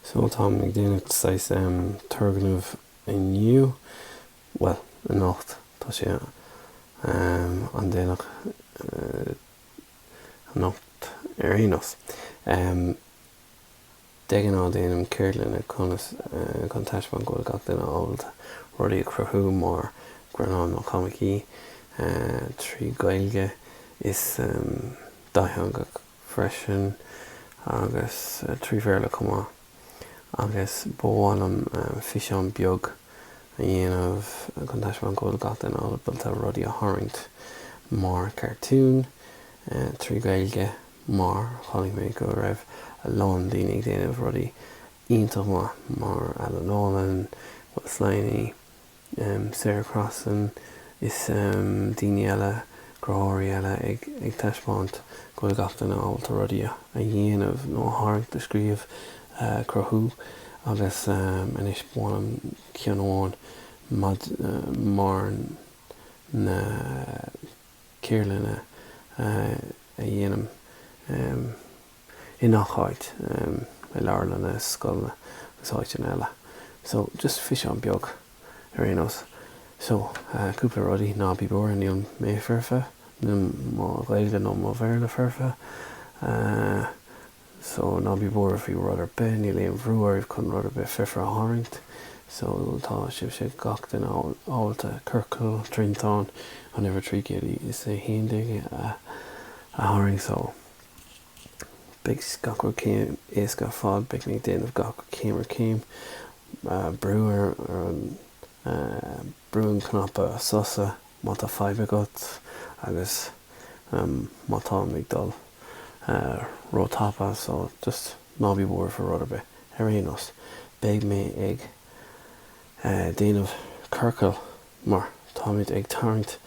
So táim ag déanamh saghas turgnaimh inniu, bhuel, anocht, tá sé an-déanach anocht ar aon nós. De ghnáth déanaim ceardlanna conas chun taispeáint go bhfuil gach duine ábalta rudaí a chruthú mar greannáin nó coimicí trí Ghaeilge is dátheangach. freisin, agus trí Bhéarla chomh maith, agus ba mhaith liom físeán beag a dhéanamh chun taispeáint go bhfuil gach duine ábalta rudaí a tharraingt mar cartúin trí Ghaeilge mar chonaic mé go raibh a lán daoine ag déanamh rudaí iontach maith mar Alan Nolan, Will Sliney, Sarah Crossan is daoine eile, cruthóirí eile, ag taispeáint go bhfuil gach duine ábalta rudaí a dhéanamh nó a tharraingt, a scríobh, a chruthú agus anois ba mhaith liom ceann amháin mar na ceardlanna a dhéanaim. i ngach áit, i leabharlanna is scoileanna agus áiteanna eile. So, just físeán beag, ar aon nós. So, cúpla rudaí, ná bí buartha, níl mé foirfe, níl mo Ghaeilge nó mo Bhéarla foirfe. So, ná bí buartha faoi rud ar bith, níl aon bhrú oraibh chun rud ar bith foirfe a tharraingt. So, tá sibhse, gach duine, ábalta ciorcal, triantán, an uimhir 311 a tharraingt. So. Beidh gach rud céim éasca ar fad, beidh mé ag déanamh gach rud céim ar chéim, brú ar an, brú an cnaipe sosa má tá fadhb agat agus má táim ag dul ró-tapa so just ná bí buartha faoi rud ar bith. Ar aon nós, beidh mé ag déanamh ciorcail mar táimid ag tarraingt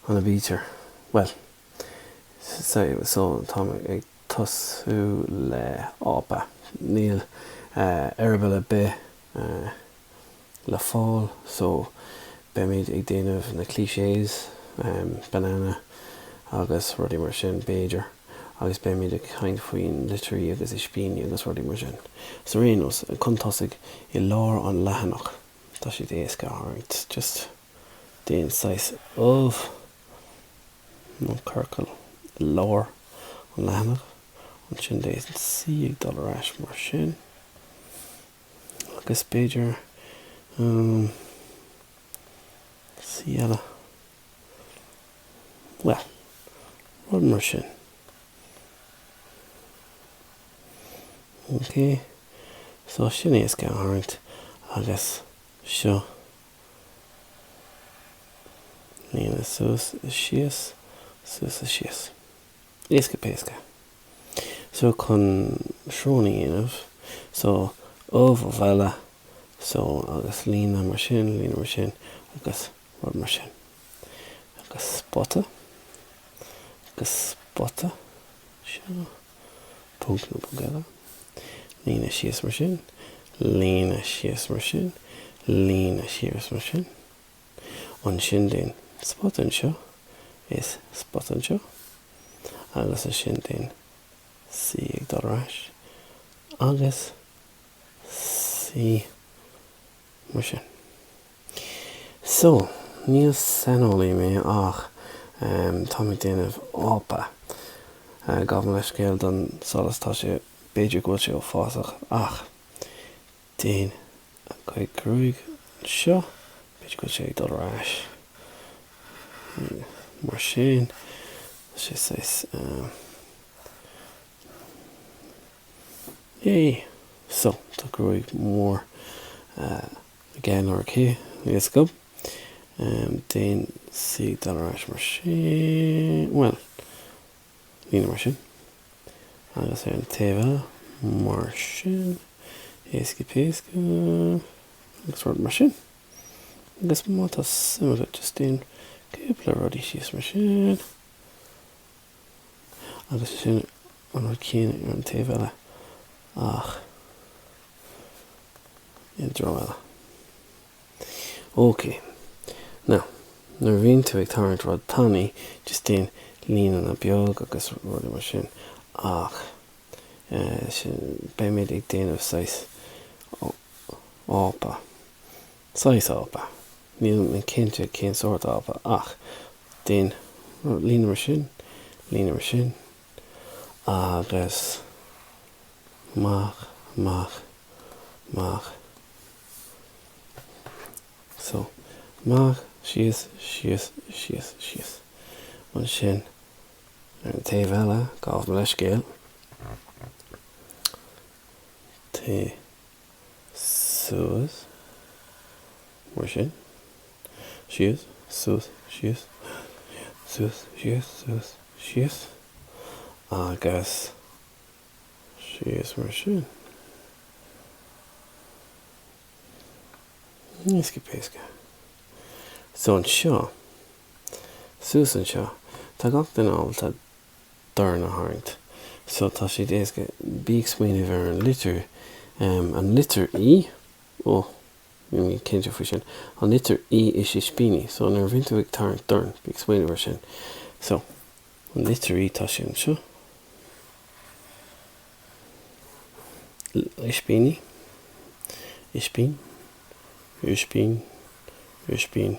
an aibítir, bhuel, Táimid ag tosú le ápa. Níl eireaball ar bith le fáil so beimid ag déanamh na clichés, banana agus rudaí mar sin b'fhéidir agus beimid ag caint faoin litrí agus ispíní agus rudaí mar sin. So ar aon nós, chun tosaigh, i lár an leathanach, tá siad éasca a tharraingt, just. déan saghas ubh nó ciorcal i lár an leathanaigh. Ansin déan C ag dul ar ais mar sin. Agus b'fhéidir um, C eile. Well, rud mar sin. Okay. So sin éasca a tharraingt agus seo Líne suas is síos, suas is síos. Éasca péasca. So chun srón a dhéanamh, so, ubh, ubh eile, so agus líne mar sin, líne mar sin agus rud mar sin. Agus spota, agus spota. Seo. Ponc nó ponc eile. Líne síos mar sin. Líne síos mar sin. Líne síos mar sin. Ansin déan spota anseo is spota anseo. Agus ansin déan C ag dul ar ais. Agus C. Mar sin. So, níl saineolaí mé ach táim ag déanamh ápa. Gabh mo leithscéal don solas, tá sé, b'fhéidir go bhfuil sé uafásach ach déan cúig gruaig anseo, b'fhéidir go bhfuil sé ag dul ar ais. Mar sin, tá sé saghas, yay! So, tá gruaig mór aige. OK, let's go. Déan C ag dul ar ais mar sin, bhuel, líne mar sin, agus ar an taobh eile mar sin, éasca péasca, agus rud mar sin. Agus má tá suim agat, just déan cúpla rudaí síos mar sin. agus sin an rud céanna ar an taobh eile ach i dtreo eile. Ok, now, nuair a bhíonn tú ag tarraingt rud tanaí, just déan líneanna beag agus rudaí mar sin, ach eh, sin, beimid ag déanamh saghas ápa. saghas ápa, níl mé cinnte cén sórt ápa, ach déan líne mar sin, líne mar sin, agus amach, amach, amach, so, amach, síos, síos, síos, síos, ansin ar an taobh eile, gabh mo leithscéal, taobh. suas, mar sin, síos, suas, síos, suas, síos, suas, síos, agus síos, mar sin. Éasca péasca. So anseo, suas anseo, tá gach duine ábalta dorn a tharraingt. So tá sé éasca, bí ag smaoineamh ar an litir, an litir í, ó, níl mé cinnte faoi sin, an litir í is ispíní. So nuair a bhíonn tú ag tarraingt dorn, bí ag smaoineamh ar sin. So, an litir í, tá sé anseo. Ispíní, ispín, ispín, ispín.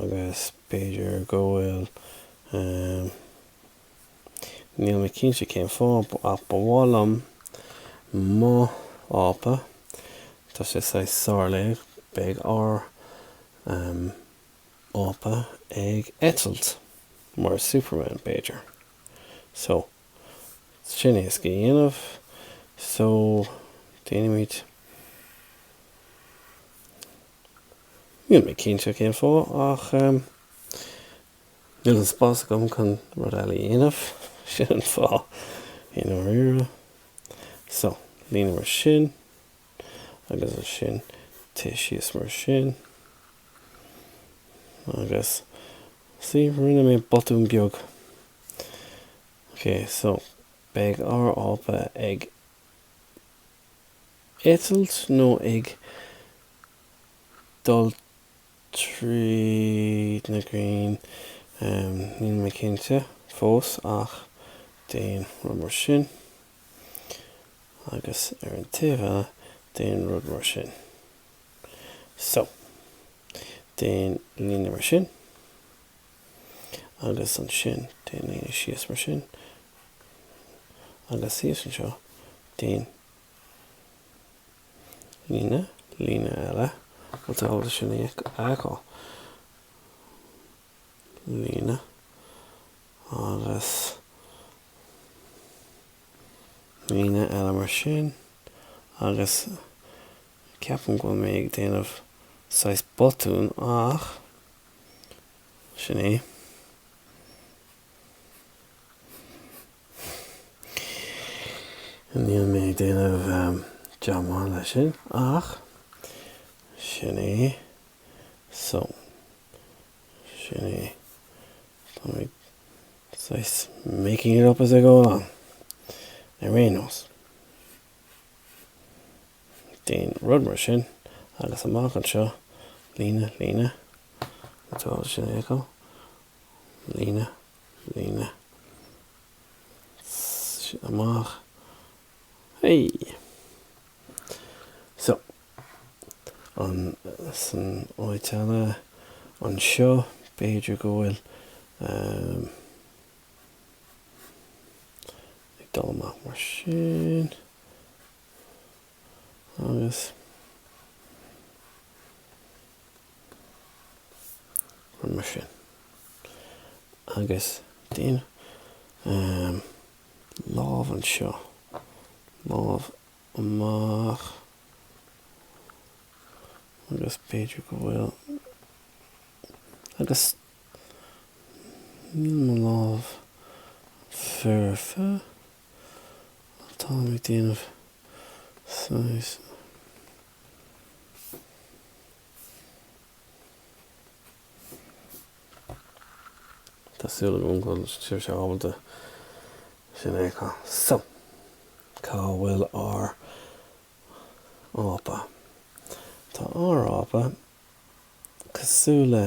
agus b'fhéidir go bhfuil, níl mé cinnte cén fáth, ach ba mhaith liom mo ápa, tá sé sárlaoch, beidh ár ápa ag eitilt, mar Superman b'fhéidir. So, sin éasca le déanamh, so, déanfaimid. Níl mé cinnte cén fáth, ach níl an spás agam chun rud eile a dhéanamh, sin an fáth, i ndáiríre. So, líne mar sin, agus ansin téigh síos mar sin. Agus, see, rinne mé botún beag. Ok, so, beidh ár ápa ag. eitilt nó ag dul tríd na crainn, níl mé cinnte fós ach déan rud mar sin agus ar an taobh eile déan rud mar sin. So, déan líne mar sin agus ansin déan líne síos mar sin agus thíos anseo déan líne, líne eile, tá tú ábalta sin a fheiceáil. líne agus líne eile mar sin agus ceapaim go bhfuil mé ag déanamh saghas botún ach sin é. Níl mé ag déanamh deamán leis sin ach sin é. So, sin é. Táim ag saghas making it up as I go along, ar aon nós. Déan rud mar sin agus amach anseo, líne, líne, It's all symmetrical. líne, líne, amach, hey! So, ansan áit eile anseo, b'fhéidir go bhfuil um, ag dul amach mar sin, agus, Rud mar sin. Agus déan um, lámh anseo, lámh amach, agus b'fhéidir go bhfuil, agus níl mo lámh foirfe, tá mé déanamh, Tá súil agam go bhfuil sibhse ábalta sin a fheiceáil. So, cá bhfuil ár ápa? Tá ár ápa cosúil le,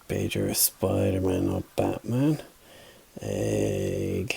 b'fhéidir, Spiderman nó Batman ag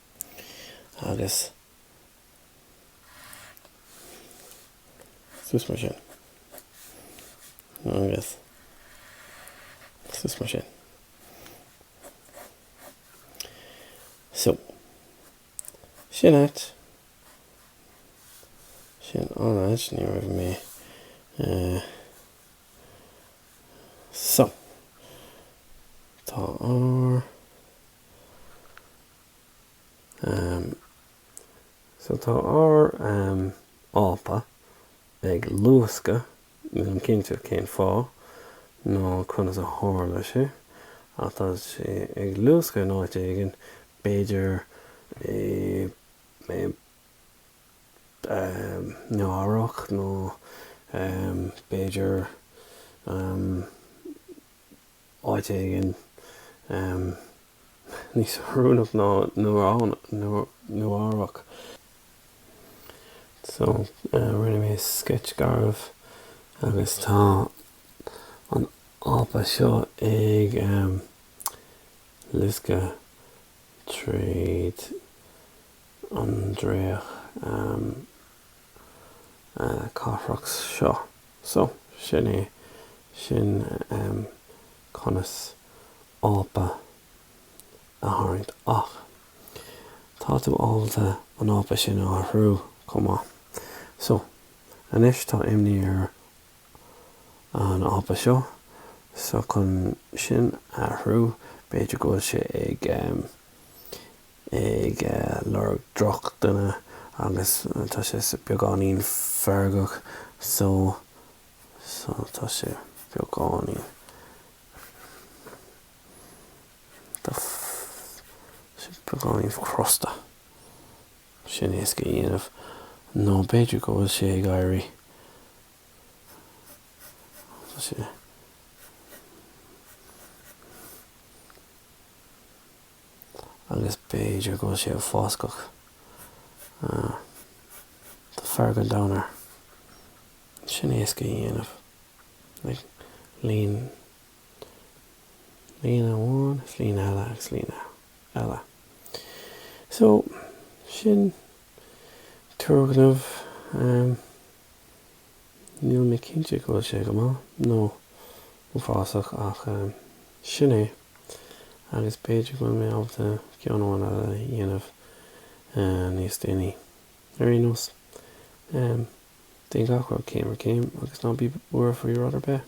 agus suas mar sin, agus suas mar sin. So, sin é, sin an áit, ní raibh mé, eh, so, tá ár. So tá ár Ápa ag luascadh, nílim cinnte cén fáth nó conas a tharla sé, ach tá sé ag luascadh in áit éigin, b'fhéidir in Éirinn nó b'fhéidir áit éigin níos oiriúnach ná Nua-Eabhrac. So, rinne mé sceits garbh agus tá an ápa seo ag luascadh tríd an dreach. cathrach seo. So, sin é sin conas ápa a tharraingt. Ach tá tú ábalta an ápa sin a athrú chomh maith. So, anois tá imní ar an ápa seo. So, chun sin a athrú, b'fhéidir go bhfuil sé ag ag lorg drochdhuine agus tá sé beagáinín feargach so so tá sé beagáinín tá sé beagáinín crosta sin éasca a dhéanamh nó b'fhéidir go bhfuil sé ag éirí tá sé agus b'fhéidir go bhfuil sé uafásach, tá fearg an domhain air. Sin éasca a dhéanamh. Like, líne, líne amháin, líne eile, agus líne eile. So, sin turgnamh um, Níl mé cinnte go bhfuil sé go maith nó uafásach ach sin é agus b'fhéidir go bhfuil mé ábalta ceann amháin eile a dhéanamh níos déanaí. Ar aon nós, déan gach rud céim ar chéim agus ná bí buartha faoi rud ar bith.